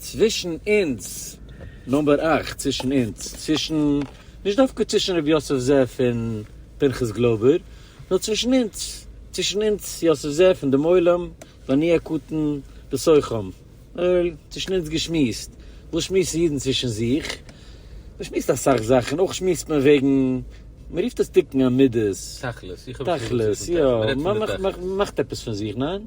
צווישן אונז, נומבער אַכט, צווישן אונז, צווישן, נישט דווקא צווישן ר' יוסף זאב פון פנחס גלויבער, נאר צווישן אונז, צווישן אונז, יוסף זאב און דעם עולם, ואני הקטן בתוכם, צווישן אונז געשמועסט, וואס שמועסן אידן צווישן זיך? מען שמועסט אסאך זאכן, אויך שמועסט מען וועגן, מען רופט עס תיקון המידות, תכלית, יא, מען מאכט עפעס פון זיך, ניין?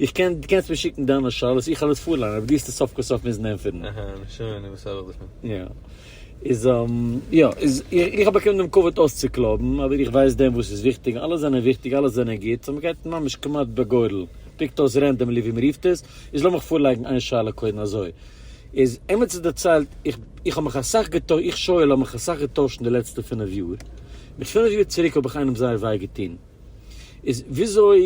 איך קען, דו קענסט מיר שיקן דיינע שאלות, איך העל עס פארליינען, אבער דו האסט עס סוף כל סוף מוזן ענטפערן. אהה, נו שוין, און וואס האב איך דערפון? יא. איז אהמ, יא, איז, איך האב באקומען דעם כבוד אויסצוקלויבן, אבער איך ווייס דען וואס איז וויכטיג, אלע זענען וויכטיג, אלע זענען גוט, סאו מ'גייט ממש כמעט בגורל, פיקט אויס רענדאמלי ווי מ'רופט עס, איז לאמיך פארלייגן איין שאלה קודם אזוי, איז עמיצער דערציילט, איך, איך האב מיך אסאך געטוי, איך שאול האב מיך אסאך געטוישט אין די לעצטע פינף יאר, מיט פינף יאר צוריק האב איך איינעם זייער וויי געטון. איז וויאזוי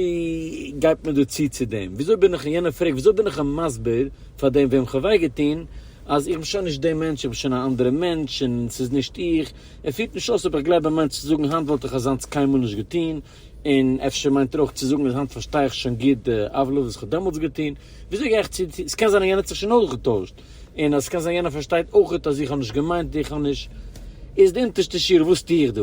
גייט מען דא צו צו דעם? וויאזוי בין איך און יענער פרעגט וויאזוי בין איך אים מסביר פאר דעם וועם כ'האב וויי געטון אז איך בין שוין נישט דער מענטש, איך בין שוין א אנדערע מענטש און ס'איז נישט איך, ער פירט נישט אויס אויב איך גלייב א מענטש צו זאגן היינט וואלט איך אזאנס קיינמאל נישט געטון און אפשר מיינט ער אויך צו זאגן אז היינט פארשטיי איך שוין גוט די עוולות וואס כ'האב דעמאלטס געטון, וויאזוי גיי איך צו צו, ס'קען זיין אז יענער האט זיך שוין אויך געטוישט און אז ס'קען זיין יענער פארשטייט אויך אז איך האב נישט געמיינט איך האב נישט, איז די אונטערשטע שיעור וואס טו איך דא?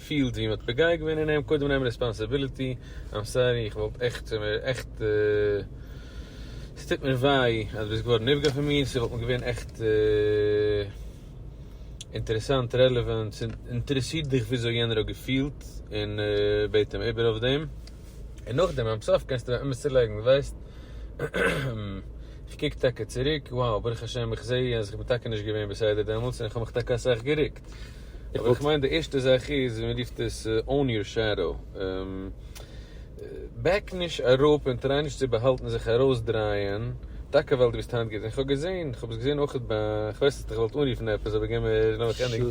פילט ווי מ'האט פוגע געווען אין אים, קודם נעם ריספאנסעביליטי, איים סארי איך וואלט עכט, ס'מיר עכט, ס'טוט מיר וויי אז ביסט געווארן נפגע פון מיר, ס'וואלט מיר געווען עכט אינטערעסאנט, רעלעווענט, ס'אינטערעסירט דיך וויאזוי יענער האט געפילט, און בעט אים איבער אויף דעם, און נאכדעם איים סארי קענסטו באמת צולייגן, ווייסט, איך קוק טאקע צוריק, wow ברוך השם איך זעה אז איך בין טאקע נישט געווען בסדר דעמאלטס און איך האב מיך טאקע אסאך גערוקט. אבער איך מיין די ערשטע זאך איז ווי מען רופט עס own your shadow, בעק נישט אראפ און טריי נישט צו באהאלטן זיך ארויסדרייען טאקע ווייל דו ביסט היינט גוט, און איך האב געזען, איך האב עס געזען אויכעט ביי, איך ווייס אז איך וואלט אנרופן עפעס אבער געמער לאמיך ענדיגן,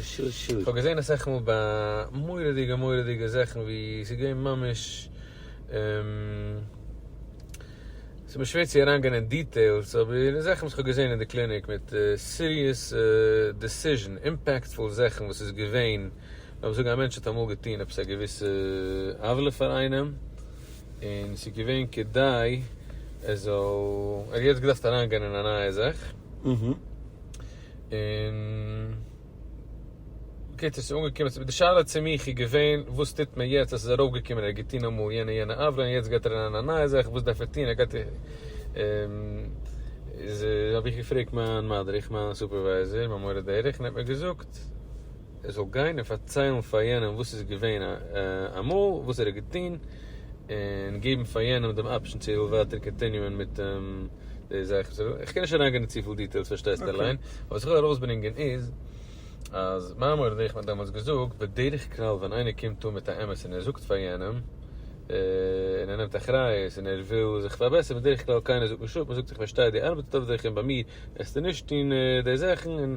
איך האב געזען אסאך מאל ביי מורא'דיגע מורא'דיגע זאכן ווי ס'איז געווען ממש. ס'איז מיר שווער צו אריינגיין אין דיטעילס, אבער אין זאכן וואס כ'האב געזען אין די קליניק מיט סיריעס דעסיזשן, אימפעקטפול זאכן וואס איז געווען, לאמיר זאגן א מענטש האט אמאל געטון עפעס א געוויסע עוולה פאר איינעם, און ס'איז געווען כדי ער זאל, ער האט יעצט געדארפט אריינגיין אין א נייע זאך, און. בקיצור ס'איז אנגעקומען צו, די שאלה צו מיך איז געווען וואס טוט מען יעצט, עס איז ארויפגעקומען ער האט געטון אמאל יענע יענע עוולה און יעצט גייט ער אריין אין א נייע זאך, וואס דארף ער טון, ער גייט איז האב איך געפרעגט מיין מדריך, מיין סופערווייזער, מיין מורה דרך, און ער האט מיר געזאגט ער זאל גיין און פארציילן פאר יענעם וואס איז געווען אמאל, וואס ער האט געטון, און געבן פאר יענעם דעם אפשן צו ער וויל ווייטער קאנטיניוען מיט דעם. די זאך איז איך קען נישט אריינגיין צופיל דיטעילס פארשטייסט אליין, וואס איך וויל ארויסברענגען איז אז מיין מורה נבוכים האט דעמאלטס געזאגט בדרך כלל ווען איינער קומט אן מיט א אמת און ער זאגט פאר יענעם און ער נעמט אחריות און ער וויל זיך פארבעסערן בדרך כלל קיינער זאגט נישט אפ מען זאגט איך פארשטיי די ארבעט איז טוב זיך און ביי מיר עסטו נישט טון די זאכן און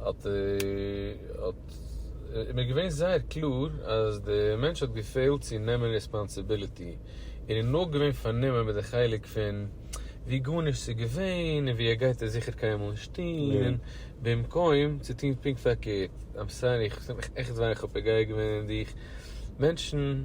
האט איז מיר געווען זייער קלאר אז די מענטש האט געפעלט צו נעמען רעספאנסיביליטי און איז נאר געווען פארנומען מיט די חלק פון ווי גארנישט איז געווען און ווי ער גייט עס זיכער קיינמאל נישט טון במקום צו טון פונקט פארקערט. איים סארי איך האב מיך עכט וויי איך האב פוגע געווען אין דיך מענטשן.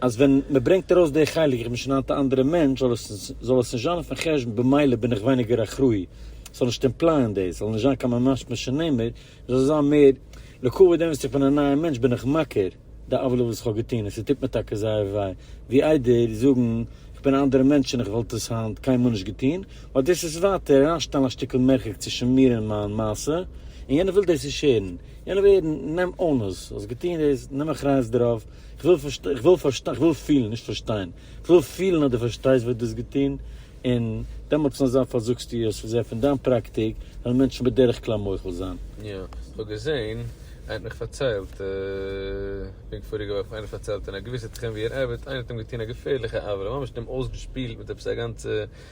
אז ווען מען ברענגט ארויס די חלק איך בין שוין היינט א אנדערע מענטש זאל עס זאל עס נישט זיין אויפן חשבון במילא בין איך ווייניגער אחראי זאל נישט אימפלייען דאס זאל נישט זיין קיין ממש משונעמער איך זאל זיין מער לקבוע דעם וואס איך בין א נייער מענטש בין איך מכיר די עוולה וואס איך האב געטון און ס'טוט מיר טאקע זייער וויי ווי איידער זאגן איך בין א אנדערע מענטש און איך וואלט עס היינט קיינמאל נישט געטון ווייל דאס איז ווייטער אריינשטעלן א שטיקל מרחק צווישן מיר און מיין מעשה און יענער וויל דאס נישט הערן יענער וויל הערן נעם אונס האסט געטון דאס נעם אחריות דערויף. כ'וויל פארשטיין, כ'וויל פארשטיין, כ'וויל פילן, נישט פארשטיין, כ'וויל פילן אז דו פארשטייסט וואס דו האסט געטון, און דעמאלטס נאר זיי פארזאגסטו עס, וואס זיי פון דיין פראקטיק וועלן מענטשן בדרך כלל מוחל זיין. יא, כ'האב געזען, איינער האט מיך פארציילט, פונקט פאריגע וואך האט מיך איינער פארציילט אין א געוויסע תחום ווי ער ארבעט, איינער האט אים געטון א געפערליכע עוולה, ממש אים אויסגעשפילט מיט עפעס א גאנצע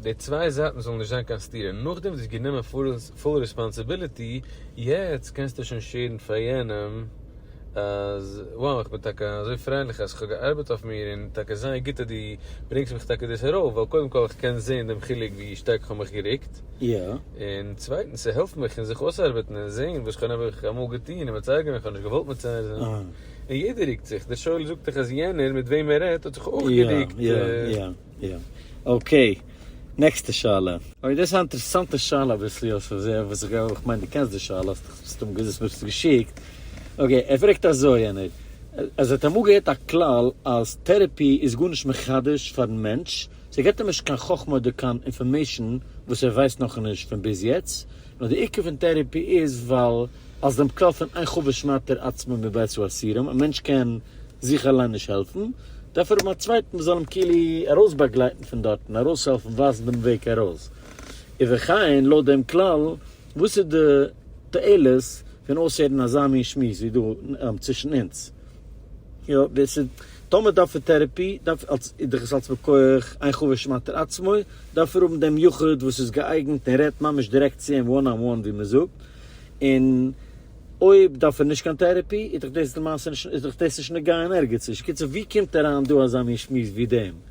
די צוויי זייטן זאל נישט זיין קיין סתירה, נאכדעם וואס די האסט גענומען פול רעספאנסיביליטי, יעצט קענסטו שוין שערן פאר יענעם אז wow איך בין טאקע אזוי פרייליך אז כ'האב געארבעט אויף מיר און טאקע זייער גוט אז דו ברענגסט מיך טאקע דאס ארויף ווייל קודם כל איך קען זען דעם חילוק ווי שטארק כ'האב מיך גערוקט און צווייטנס ס'העלפט מיך אין זיך אויסארבעטן און זען וואס כ'האב נעבעך אמאל געטון און מצער געווען כ'האב נישט געוואלט מצער זיין און יעדער רוקט זיך, דער שואל זאגט דאך אז יענער מיט וועם ער רעדט האט זיך אויך גערוקט. יא. אקעי. נעקסטע שאלה. אוי דאס איז א אינטערעסאנטע שאלה אביסל אויף ווי אזוי וואס איך גיי איך מיין דו קענסט די שאלה האסט דאך מסתמא געז האסט מיר עס געשיקט. אקעי ער פרעגט אזוי יענער אז ער האט אמאל געהערט א כלל אז טערעפי איז גארנישט מחדש פארן מענטש, ס'געט אים נישט קיין חכמה אדער קיין אינפארמעישן וואס ער ווייסט נאכנישט פון ביז יעצט, נאר די עיקר פון טערעפי איז ווייל אז דעם קאפ פון איין חבר שמעט ער עצמו מבית האסירים, א מענטש קען זיך אליין נישט העלפן, דארף ער האבן א צווייטן וואס זאל אים כאילו ארויסבאגלייטן פון דארטן, ארויסהעלפן ווייזן דעם וועג ארויס. ובכן, לויט דעם כלל, וואס איז די תועלת פון אויסהערן אזא מין שמועס ווי דא צווישן אונז? יא דאס איז טאמער דארף ער טערעפי דארף אלס איז דאך עס אלס מכח עין חוה שמעתר עצמו דארף ער האבן דעם יחוד וואס איז געאייגענט און רעדט ממש דירעקט צו אים וואן אן וואן ווי מען זאגט און אויב דארף ער נישט קיין טערעפי איז דאך דאס למעשה נישט איז דאך דאס נישט נוגע אין ערגעץ נישט קיצור ווי קומט אריין דא אזא מין שמועס ווי דעם.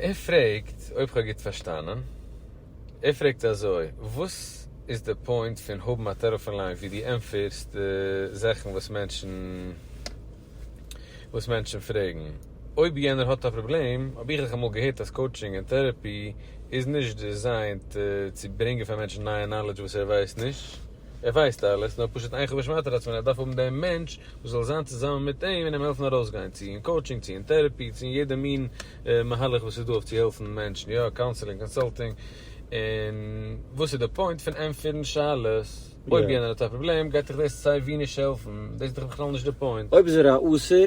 ער פרעגט, אויב כ'האב גוט פארשטאנען, ער פרעגט אזוי, וואס איז די פוינט פון האבן א טעלעפאן ליין ווי דו ענטפערסט די זאכן וואס מענטשן וואס מענטשן פרעגן? אויב יענער האט א פראבלעם, האב איך דאך אמאל געהערט אז קאוטשינג און טערעפי איז נישט דעזיינט צו ברענגען פאר מענטשן נייע נאלעדזש וואס ער ווייסט נישט. ער ווייסט אלעס, נאר פשוט איין חבוש מטרת עצמו, ער דארף האבן דעם מענטש וואס זאל זיין צוזאמען מיט אים און אים העלפן ארויסגיין, צו אין קאוטשינג, צו אין טערעפי, צו אין יעדע מין מהלך וואס איז דא אויף צו העלפן מענטשן, יא, קאונסעלינג, קאנסאלטינג, און וואס איז די פוינט פון ענטפערן שאלות? אויב יענער האט א פראבלעם גייט דיך דאס סיי ווי נישט העלפן, דאס איז דאך בכלל נישט די פוינט. אויב איז ער א אסור.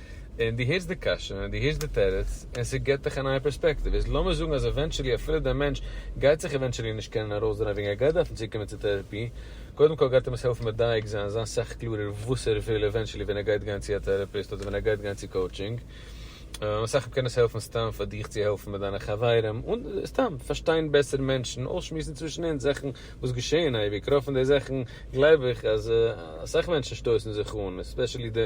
און דו הערסט די קשיא און דו הערסט די תירוץ און ס'געט דיך א נייע פערספעקטיוו. איז לאמיר זאגן אז עווענטשעלי אפילו דער מענטש גייט זיך עווענטשעלי נישט קענען ארויסדרייען וועגן ער גייט דארפן צוקומען צו טערעפי, קודם כל גייט אים עס העלפן מדייק זיין, זיין סאך קלארער וואס ער וויל עווענטשעלי ווען ער גייט גיין צו א טערעפיסט אדער ווען ער גייט גיין צו קאוטשינג. משא כ קען עס העלפן סתם פאר דיך צו העלפן מיט דיינע חברים און סתם פארשטיין בעסער מענטשן, אויסשמועסן צווישן אונז זאכן וואס געשעען אייביג, רוב פון די זאכן גלייב איך אז אסאך מענטשן שטויסן זיך אן, עספעשעלי די.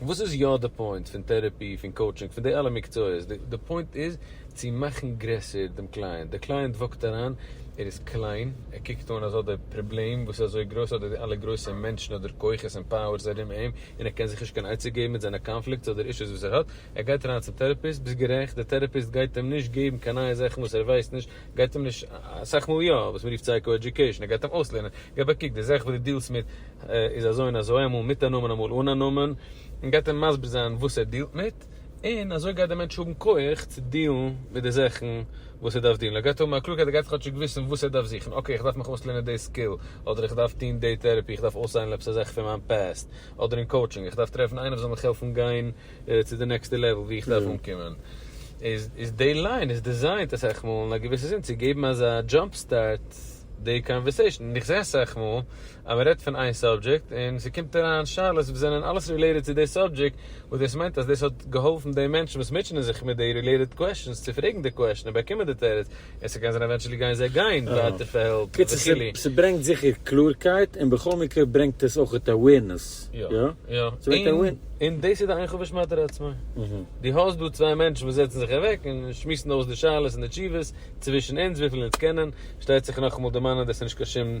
וואס איז יא די פוינט פון טערעפי, פון קאוטשינג, פון די אלע מקצועות? די פוינט איז צו מאכן גרעסער דעם קלייענט. דער קלייענט וואקט אריין, ער איז קליין, ער קוקט אן אזא די פראבלעם וואס איז אזוי גרויס, אדער די אלע גרויסע מענטשן אדער כוחות און פאוערס ארום אים, און ער קען זיך נישט קיין עצה געבן מיט זיינע קאנפליקטס אדער אישוס וואס ער האט, ער גייט אריין צום טערעפיסט, ביסט גערעכט, דער טערעפיסט גייט אים נישט געבן קיין נייע זאכן וואס ער ווייסט נישט, גייט אים נישט, אסאך מאל יא, וואס מען רופט סייקא עדיוקעישן, ער גייט אים אויסלערנען, געב א קוק, די זאך וואס די דילסט מיט, איז אזוי און אזוי, אמאל מיט א נאמען אמאל אן א נאמען, און גייט אים מסביר זיין וואס ער דיעלט מיט, און אזוי גייט דער מענטש האבן כח צו דיעלן מיט די זאכן וואס ער דארף דיעלן, ער גייט האבן א קלארקייט, ער גייט כאטשיג וויסן וואס ער דארף זוכן, אקעי איך דארף מיך אויסלערנען די סקיל, אדער איך דארף טון די טערעפי, איך דארף אויסהיילן עפעס א זאך פון מיין פעסט, אדער אין קאוטשינג, איך דארף טרעפן איינער וואס זאל מיך העלפן גיין צו די נעקסטע לעוועל וואו איך דארף אנקומען, איז די ליין איז דיזיינט אסאך מאל אין א געוויסע זין צו געבן אזא דזשאמפ סטארט די קאנווערסעישן, און איך זע אסאך מאל. אז מען רעדט פון איין סאבדזשעקט און ס'קומט אריין שאלות וואס זענען אלעס רילעיטעד צו די סאבדזשעקט, וואס דאס מיינט אז דאס האט געהאלפן די מענטשן וואס מוטשענען זיך מיט די רילעיטעד קוועסטשענס צו פרעגן די קוועסטשען און באקומען די תירוץ, און ס'קען זיין עווענטשעלי גייען זיי גיין ווייטער פאר העלפ וכו'. קיצור, ס'ברענגט זיכער קלארקייט, און בכל מקרה ברענגט עס אויך אווערנעס, יא? און דאס איז די עין חוות שמעתי לעצמי. דו האסט דא צוויי מענטשן וואס זעצן זיך אוועק און שמועסן אויס די שאלות און די תשובות, צווישן אונז וויפיל אונז קענען, שטייצעך נאכאמאל דערמאנען דאס איז נישט קיין שום.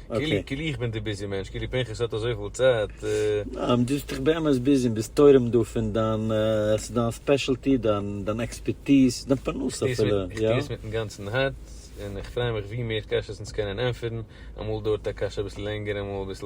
כאילו כאילו איך בין די ביזי מענטש, כאילו פנחס האט אזויפיל צייט. דו ביסט דאך באמת ביזי און ביסט תורם דא פון דיין, עס איז דיין ספעשעלטי, דיין עקספערטיז, דיין פרנסה אפילו. איך טוה עס מיטן גאנצן הארץ, און איך פריי מיך ווי מער קשיות אונז קענען ענטפערן, אמאל דויערט א קשיא אביסל לענגער, אמאל אביסל.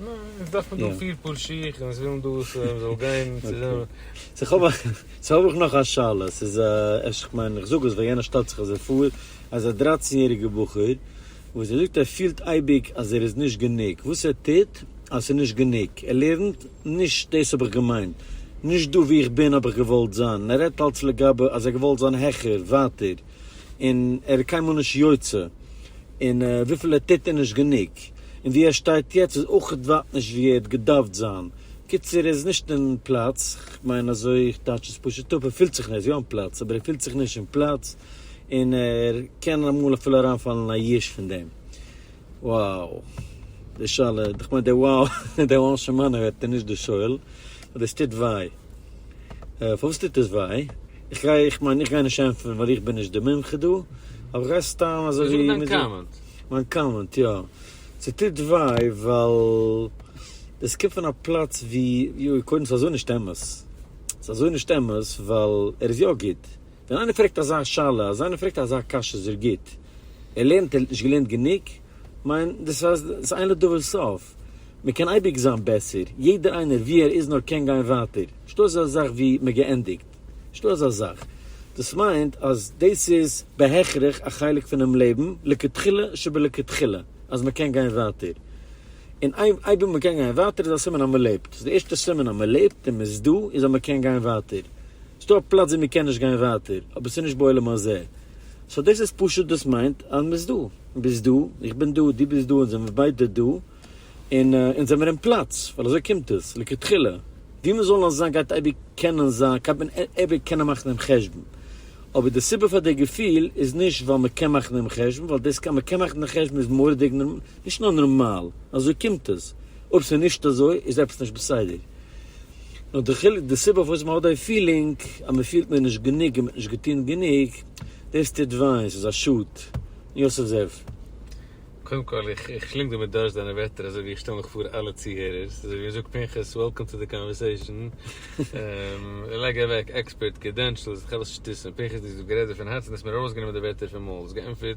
ניין, עס דארף מען דא פיר פאר שיך און עס ווילן דא עס זאל גיין צוזאמען. סאו האב איך, סאו האב איך נאך א שאלה, ס'איז א, אפשר איך מיין איך זאג עס ווייל יענער שטעלט זיך אזוי פאר, אז א דרייצן יעריגער בחור וואס ער זאגט ער פילט אייביג אז ער איז נישט גענוג, וואס ער טוט אז ס'איז נישט גענוג, ער לערנט נישט, דאס האב איך געמיינט, נישט דא וואו איך בין האב איך געוואלט זיין, און ער רעדט אלץ לגבי אז ער געוואלט זיין העכער, ווייטער. און ער איז קיינמאל נישט יוצא, און וויפיל ער טוט איז נישט גענוג, און ווי ער שטייט יעצט איז אויך ווייט נישט ווי ער האט געדארפט זיין, קיצור ער איז נישט אין פלאץ, כ'מיין אזוי, איך טייטש עס פשוט אפ, ער פילט זיך נישט, ער איז יא אין פלאץ, אבער ער פילט זיך נישט אין פלאץ, און ער קען אמאל אפילו אריינפאלן אין א ייאוש פון דעם. Wow. די שאלה, כ'מיין די wow, די wow של מענה ווערט איז נישט די שואל. אבער עס טוט וויי. פארוואס טוט עס וויי? איך גיי, איך מיין, איך גיי נישט ענטפערן ווייל איך בין נישט די מומחה דא. אבער איך גיי סתם אזוי ווי. זאג דיין קאמענט. מיין קאמענט, יא. ס'טוט וויי ווייל דאס קומט פון א פלאץ ווי, יוי, קודם ס'איז אזוי נישט אמת. ס'איז אזוי נישט אמת ווייל ער איז יא גוט. ווען איינער פרעגט אזא שאלה, אז איינער פרעגט אזא קשיא זאג גוט, ער לערנט, ער האט נישט געלערנט גענוג, כ'מיין דאס אז דאס אין לדבר סוף, מען קען אייביג זיין בעסער, יעדער איינער ווי ער איז נאר קען גיין ווייטער, נישטא אזא זאך ווי מען געענדיגט, נישטא אזא זאך, דאס מיינט אז דאס איז בהכרח א חלק פונעם לעבן לכתחילה שבלכתחילה אז מען קען גיין ווייטער, און אייביג מען קען גיין ווייטער איז א סימן אז מען לעבט, די ערשטע סימן אז מען לעבט און מען איז דא איז אז מען קען גיין ווייטער. ס'דא א פלאץ ווי מ'קען נישט גיין ווייטער, אבער ס'נישט בעולם הזה. סאו דאס איז פשוט דאס מיינט אז מ'איז דא. ביסט דא, איך בין דא, דו ביסט דא, אונז זעמיר ביידע דא. און אונז זעמיר אין פלאץ, ווייל אזוי קומט עס, לכתחילה. ווי מ'זאל נאר זיין גייט אייביג קענען זיין, גייט מען אייביג קענען מאכן דעם חשבון. אבער די סיבה פאר די געפיל איז נישט ווייל מ'קען מאכן דעם חשבון, ווייל דאס אז מ'קען מאכן דעם חשבון איז מורא'דיג, נישט נאר נארמאל, אזוי קומט עס. אויב ס'איז נישט אזוי איז עפעס נישט בסדר. נאר די חילוק די סיבה פארוואס מ'האט די פילינג אז מ'פילט מיר נישט גענוג און מ'האט נישט געטון גענוג, דאס טוט וויי, ס'איז א שאד. יוסף זאב. קודם כל איך איך שלינג דא מיט דורשט דיינע ווערטער אזוי ווי איך שטעל מיך פאר אלע צוהערערס אזוי ווי זאגט פנחס וועלקאם טו די קאנווערסעישאן לייג אוועק עקספערט קרידענשעלס כ'האב עס שטות און פנחס דו האסט דא גערעדט דערפון הארץ און האסט מיר ארויסגענומען די ווערטער פון מויל האסט געענטפערט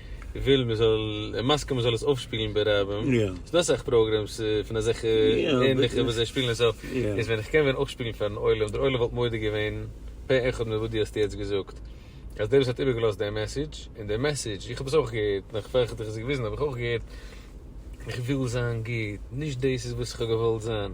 וויל מען זאל און מסכים מען זאל עס אויפשפילן ברבים, ס'איז דא אסאך פראגרעמס פון אזעלכע ענליכע וואס זיי שפילן עס אויף, איז ווען איך קען ווען אויפשפילן פארן עולם, דער עולם וואלט מודה געווען פה אחד מיט וואס דו האסט יעצט געזאגט, אז דער וואס האט איבערגעלאזט דעם מעסעדזש, און דער מעסעדזש, איך האב עס אויך געהערט, נאך פאר איך האב דיך עס געוויזן האב איך אויך געהערט, איך וויל זיין גוט, נישט דאס איז וואס איך האב געוואלט זיין.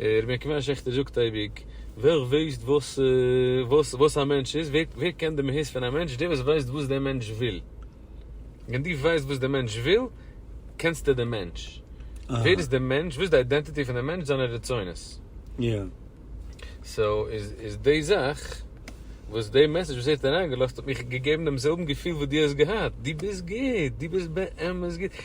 רבי עקיבא שעכטער זאגט אייביג, ווער ווייסט וואס וואס א מענטש איז, ווער קען די מהות פון א מענטש, דער וואס ווייסט וואס דער מענטש וויל. ווען דו ווייסט וואס דער מענטש וויל, קענסטו דעם מענטש. ווער איז דער מענטש, וואס איז די אידענטיטי פון דעם מענטש, זיינע רצונות. סאו איז די זאך, וואס די מעסעדזש וואס ער האט אריינגעלאזט האט מיך געגעבן דעם זעלבן געפיל וואס דו האסט געהאט, דו ביסט גוט, דו ביסט באמת גוט,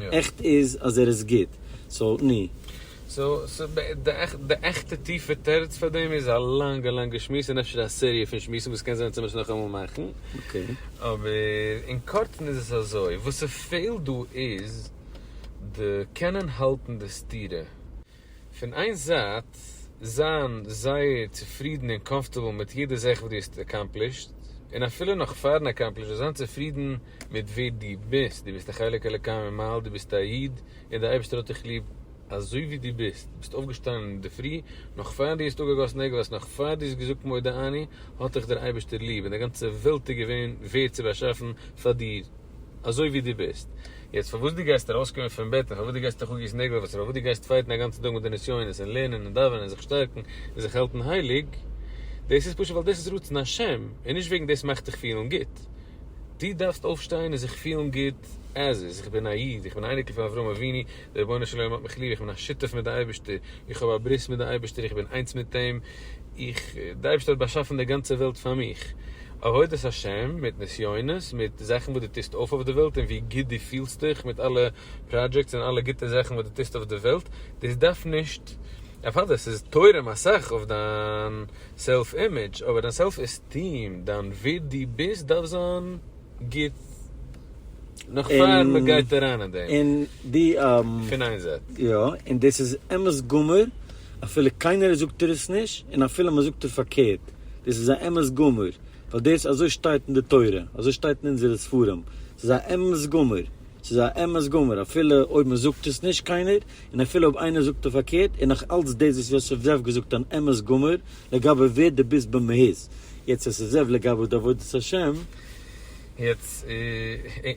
עכט איז אז ער איז גוט, סאו ני. סאו די עכטע טיפע תירוץ פאר דעם איז א לאנגע לאנגע שמועס און אפשר א סעריע פון שמועסן וואס קען זיין אז צומער עס נאכאמאל מאכן. אבער אין קורצן איז עס אזוי, וואס ס'פעלט דא איז די קענען האלטן די סתירה. פון איין זייט זיין זייער צופרידן און קאמפארטעבל מיט יעדע זאך וואס דו האסט עקאמפלישט, און אפילו נאך פארן עקאמפלישן זיין צופרידן מיט ווער דו ביסט, דו ביסט א חלק אלוקי ממעל, דו ביסט א איד און די אייבערשטער האט דיך ליב אזוי ווי דו ביסט, ביסט אויפגעשטאנען אינדערפרי נאך פאר דו האסט אפגעגאסן נעגלעס, נאך פאר דו האסט געזאגט מודה אני, האט דיך דער אייבערשטער ליב און די גאנצע וועלט איז געווען ווערט צו באשאפן פאר דיר. אזוי ווי דו ביסט יעצט, פארוואס דו גייסט ארויסקומען פון בעט, און פארוואס דו גייסט אויך אגיסן נעגל, פארוואס דו גייסט פייטן א גאנצן טאג מיט די נסיונות, און לערנען און דאווענען און זיך שטארקן און זיך האלטן הייליג, דאס איז פשוט ווייל דאס איז רצון השם, און נישט וועגן דאס מאכט דיך פילן גוט. דו דארפסט אויפשטיין און זיך פילן גוט עז איז, איך בין א איד, איך בין א אייניקל פון אברהם אבינו, דער רבונו של עולם האט מיך ליב, איך בין א שותף מיט די אייבערשטער, איך האב א ברית מיט די אייבערשטער, איך בין איינס מיט אים, איך, דער אייבערשטער האט באשאפן די גאנצע וועלט פאר מיך. עבודת השם, מיט נסיונות, מיט זאכן וואס דו טוסט אויף אויף די וועלט און ווי גוט דו פילסט דיך מיט אלע פראדזשעקטס און אלע גוטע זאכן וואס דו טוסט אויף די וועלט, דאס דארף נישט, אוודאי עס איז תורם אסאך אויף דיין סעלף אימעדזש, אבער דיין סעלף עסטיעם, דיין ווער דו ביסט דארף זיין. גוט נאך פאר מען גייט אריין אין דעם. און די און פון איין זייט. יא, און דאס איז אמת גמור, אפילו קיינער זאגט דיר עס נישט, און אפילו מען זאגט דיר פארקערט, דאס איז א אמת גמור, ווייל דאס אזוי שטייט אין די תורה, אזוי שטייט אין אונזערע ספרים, ס'איז א אמת גמור. ס'איז א אמת גמור אפילו אויב מען זאגט עס נישט קיינער, און אפילו אויב איינער זאגט עס פארקערט, איז נאך אלץ דאס וואס יוסף זאב געזאגט אן אמת גמור לגבי ווער דו ביסט במהות, יעצט יוסף זאב לגבי די עבודת השם. יעצט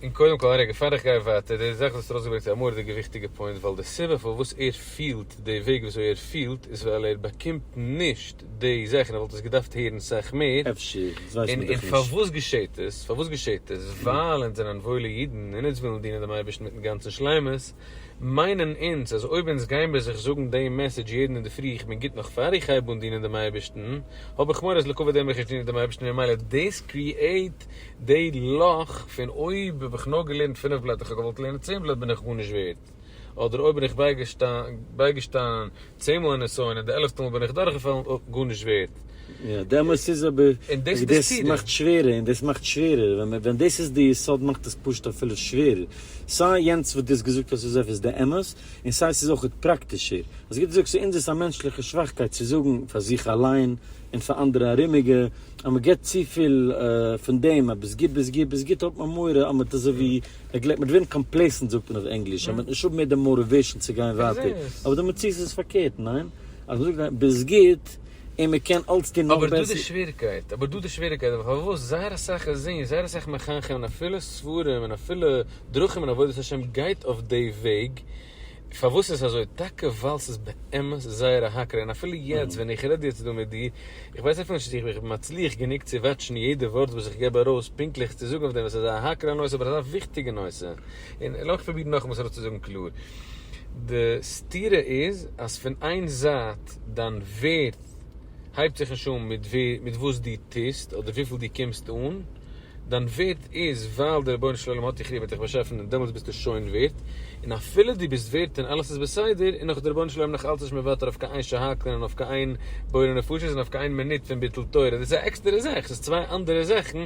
און קודם כל רגע פאר איך גיי ווייטער, די זאך וואס האסט ארויסגעברענגט איז א מורא'דיגע וויכטיגע פוינט, ווייל די סיבה פארוואס ער פילט די וועג וואס אזוי ער פילט איז ווייל ער באקומט נישט געהערט די זאכן, איך וואלט עס געדארפט הערן סאך מער. אפשר, דאס ווייסט מען דאך נישט. און פארוואס געשעהט עס? פארוואס געשעהט עס? ווייל אונז זענען וואוילע אידן, און אונז ווילן דינען דעם אייבערשטן מיטן גאנצן שלימות, מיינען אונז אז אויב אונז גיין ביי זיך זאגן דעם מעסעדזש יעדן אינדערפרי איך בין גוט נאך פאר איך הייב אן דינען דעם אייבערשטן, האב איך מורא אז לעקאוויט דעם וועל איך נישט דינען דעם אייבערשטן ממילא דאס קריעט די לאך פון אויב האב איך נאר געלערנט פינף בלעטער איך האב געוואלט לערנען צען בלעטער בין איך גארנישט ווערד. געהאט, אדער אויב בין איך בייגעשטאנען צען מאל אין נסיון און די עלעפטע מאל בין איך דורכגעפאלן, גארנישט ווערט. יא, דעמאלס איז אבער, און דאס מאכט שווערער, און דאס מאכט שווערער, ווען דאס איז די יסוד מאכט עס פשוט אפילו שווערער, סיי יענץ וואס דו האסט געזאגט אז ס'איז עפעס די אמת, און סיי ס'איז אויכעט פראקטישער, אז ווי דו זאגסט, אונז איז א מענטשליכע שוואכקייט צו זאגן פאר זיך אליין און פאר אנדערע ארומיגע, אז מ'גיבט צופיל פון דעם, אז ביסט גוט ביסט גוט ביסט גוט האט מען מורא אז מ'האט אזוי ווי נעגלעקט מיט ווערן קאמפלעסענט זאגט מען אויף ענגליש אז מען וועט נישט האבן מער די מאטיוועישאן צו גיין ווייטער, אבער די מציאות איז פארקערט, ניין? אז מען זאגט ביסט גוט און מען קען אלץ טון נאך בעסער. אבער דא די שוועריקייט, אבער דא די שוועריקייט, אבער פארוואס זייער אסאך רזים'ס, זייער אסאך מחנכים און אפילו ספרים און אפילו דרכים און עבודת השם גייט אויף די וועג, פארוואס איז עס אזוי? טאקע ווייל ס'איז באמת זייער א הכרה, און אפילו יעצט ווען איך רעד יעצט דא מיט דיר, איך ווייס אפילו נישט צו איך בין מצליח גענוג צו וואטשן יעדע ווארט וואס איך געב ארויס פונקטליך צו זאגן אויף דעם, עס איז א הכרה נושא אבער אזא וויכטיגע נושא, און לאמיך פרובירן נאכאמאל עס אראפצוזאגן קלאר, די סתירה איז אז פון איין זייט דיין ווערד. הייבט זיך נישט אן מיט ווי מיט וואס דו טוסט אדער וויפיל דו קומסט אן, דיין ווערד איז ווייל דער רבונו של עולם האט דיך ליב האט דיך באשאפן און דעמאלטס ביסטו שוין ווערד, און אפילו דו ביסט ווערד און אלעס איז בסדר און נאך איז דער רבונו של עולם נאך אלץ נישט מוותר אויף קיין איין שהכל און אויף קיין איין בורא נפשות און אויף קיין איין מינוט פון ביטול תורה, דאס איז א עקסטערע זאך, ס'איז צוויי אנדערע זאכן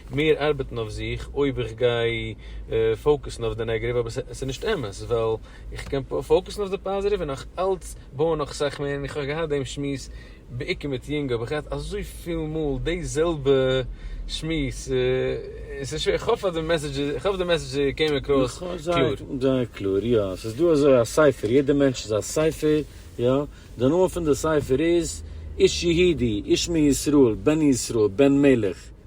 מיר ארבעטן אויף זיך אויב איך גיי פאוקעסן אויף די נעגעטיוו אבער ס'איז נישט אמת ווייל איך קען פאוקעסן אויף די פאזעטיוו און נאך אלץ בויען נאך אסאך מער און איך האב געהאט דעם שמועס בעיקר מיט יונגע האב איך געהאט אזויפיל מאל די זעלבע שמועס און ס'איז שווער כ'האף אז די מעסעדזש איך האף די מעסעדזש קעם אקראס קלאר. זייער קלאר יא ס'איז דא אזוי א ספר יעדע מענטש איז א ספר יא די נאמען פון די ספר איז איש יהודי איש מישראל בן ישראל בן מלך.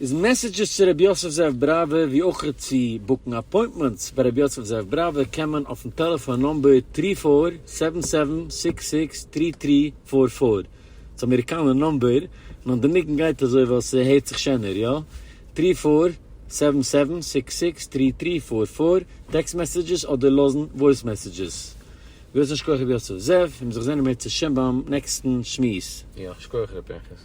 איז מעסעדזשעס צו ר' יוסף זאב בראווער ווי אויך צו בוקן אפוינטמענטס ביי ר' יוסף זאב בראווער קען מען אויפן טעלעפאן נומבער טרי פאר סעווען סעווען סיקס סיקס טרי טרי פאר פאר ס'איז אמעריקאנער נומבער נאר די ניגון גייט אזוי ווייל ס'הערט זיך שענער יא טרי פאר סעווען סעווען סיקס סיקס טרי טרי פאר פאר טעקסט מעסעדזשעס אדער לאזן וואויס מעסעדזשעס ווילסט נישט כח געב יאצו זאב און זיך זענען מער צושם ביים נעקסטן שמועס. יאך שכוח ר' פנחס.